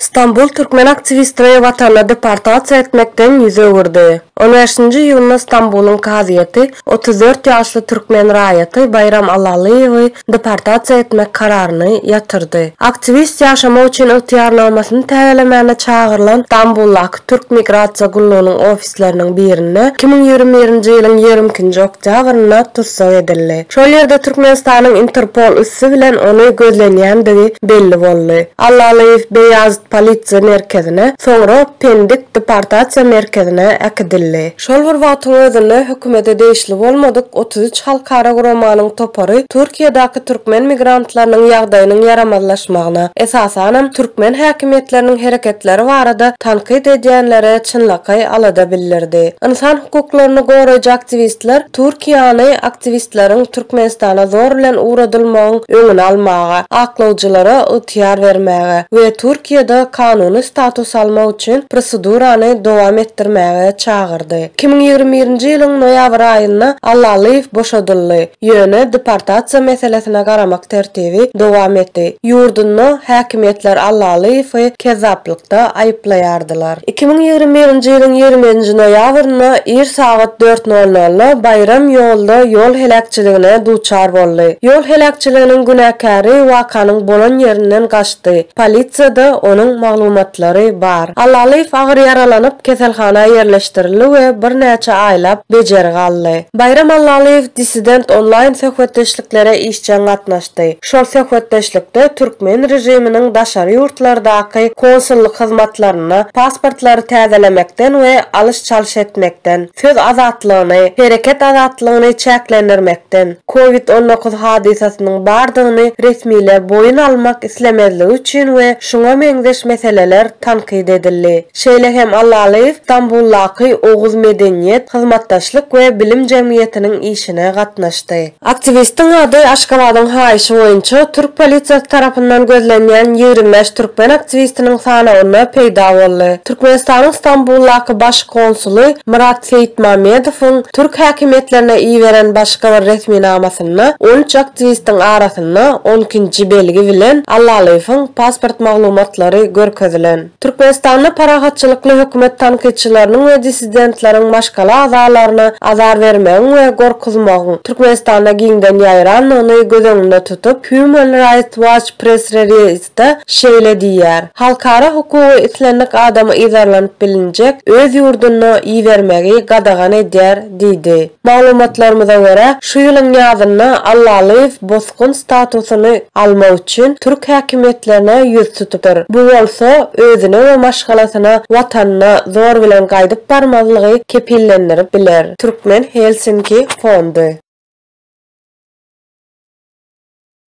Stambul türkmen aktiwistini watanyna deportasiýa etmekden ýüz öwürdi. On bäşinji iýunda Stambulyň kazyýeti otuz dört ýaşly türkmen raýaty Baýram Allalyýewi deportasiýa etmek kararyny ýatyrdy. Aktiwist ýaşamak üçin ygtyýarnamasyny täzelemäne çagyrylan Stambuldaky türk migrasiýa gullugynyň ofisine mejlisleriniň birinde iki müň ýigrimi birinji ýylyň ýigrimi ikinji oktýabrynda tussag edildi. Şol ýerde Türkmenistanyň Interpol üsti bilen ony gözlenýändigi belli boldy. Allalyýew Beýazit polisiýa merkezine, soňra Pendik deportasiýa merkezine äkidildi. Şol bir wagtyň özünde hökümete degişli bolmadyk otuz üç halkara guramanyň topary Türkiýedäki türkmen migrantlarynyň ýagdaýynyň ýaramazlaşmagyna, esasanam, türkmen häkimiýetleriniň hereketleri barada tankyt edýänlere çynlakaý alada bildirdi. Ynsan hukuklaryny goraýjy aktiwistler Türkiýäni aktiwistleriň Türkmenistana zor bilen ugradylmagyň öňüni almaga, aklawjylara ygtyýar bermäge we Türkiýede kanuny status almak üçin prosedurany dowam etdirmäge çagyrdy. Iki müň ýigrimi birinji ýylyň noýabr aýynda Allalyýew boşadyldy. Ýöne deportasiýa meselesine garamak tertibi dowam etdi. Ýurdunda häkimiýetler Allalyýewi kezzaplykda aýyplaýardylar. Iki müň ýigrimi birinji ýylyň ýigriminji noýabrynda ir sagat dört nol nolda Baýram ýolda ýol heläkçiligine duçar boldy. Ýol heläkçiliginiň günäkäri wakanyň bolan ýerinden gaçdy. Polisiýada onuň maglumatlary bar. Allalyýew agyr ýaralanyp, keselhana ýerleşdirildi we birnäçe aýlap bejergi aldy. Baýram Allalyýew Dissident onlaýn söhbetdeşliklere işjeň gatnaşdy. Şol söhbetdeşlikde türkmen režiminiň daşary ýurtlardaky konsullyk hyzmatlarynda pasportlary täzelemekden we alyş-çalyş etmekden, söz azatlygyny, hereket azatlygyny çäklendirmekden, covid on dokuz hadysasynyň bardygyny resmiler boýun almak islemezligi üçin we şuňa meňzeş meseleler tankyt edildi. Şeýle hem Allalyýew Stambuldaky Oguz medeniýet, hyzmatdaşlyk we bilim jemgyýetiniň işine gatnaşdy. Aktiwistiň ady Aşgabadyň haýyşy boýunça türk polisiýasy tarapyndan gözlenýän ýigrimi bäş türkmen aktiwistiniň sanawynda peýda boldy. Türkmenistanyň Stambuldaky baş konsuly Myrat Seýitmamedowyň türk häkimiýetlerine iberen başga bir resminamasynda on üç aktiwistiň arasynda barşynda on ikinji belgi bilen Allalyýewiň pasport maglumatlary görkezilen. Türkmenistanda parahatçylykly hökümet tankytçylarynyň we dissidentleriň maşgala agzalaryna azar bermegiň we gorkuzmagyň Türkmenistanda giňden ýaýrandygyny göz öňünde tutup, Human Rights Watch press-reliz, Aýtda şeýle diýýär, Halkara hukugy islendik adamy yzarlanyp bilinjek öz ýurduna ibermegi gadagan edýär diýdi. Maglumatlarymyza görä, şu ýylyň ýazynda Allalyýew bosgun statusyny almak üçin türk häkimiýetlerine ýüz tutudyr. Bu bolsa özüne we maşgalasyna watanyna zor bilen gaýdyp barmazlygy kepillendirip biler. Türkmen Helsinki fondy.